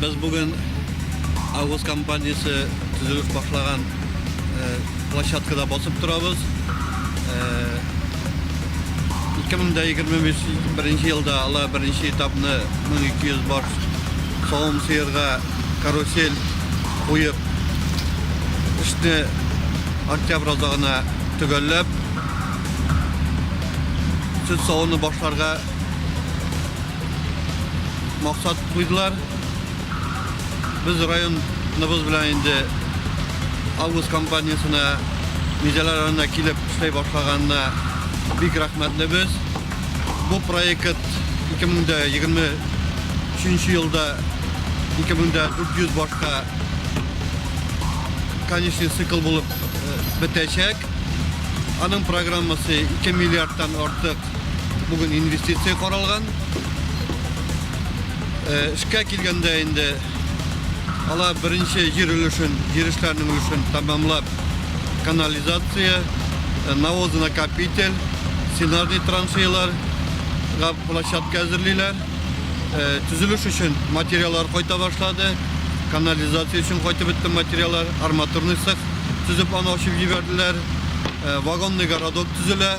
Без бүген Агус компаниясе төзелеп башлаган площадкада басып торабыз. 2025 елда алар беренче этапны 1200 баш савым сыерга. карусель куеп, эшне октябрь азагына төгәлләп, сөт савуны башларга максат куйдылар. Без районыбыз белән инде август компаниясенә Мизәлә районына килеп эшли башлаганына бик рәхмәтлебез. Бу проект 2023 елда 2400 башка конечный цикл булып э, бетәчәк. Аның программасы 2 миллиардтан артык бүген инвестиция каралган. Э, эшкә килгәндә инде Алар беренче җир өлешен, җир эшләренең өлешен тәмамлап, канализация, э, навозонакопитель, сенажный траншеяларга площадка әзерлиләр. Э, Төзелеш өчен материаллар кайта башлады. Канализация өчен кайтып бетте материаллар, арматурный цех төзеп аны ачып җибәрделәр. Э, Вагонный городок төзелә.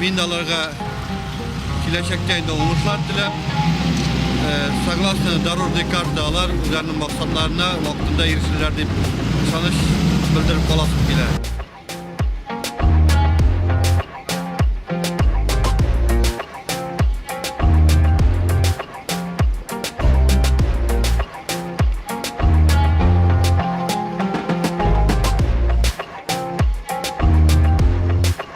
Мин аларга киләчәктә инде уңышлар теләп, согласно дорожной карта алар үзләренең максатларына вакытында ирешерләр дип ышаныч белдереп каласым килә.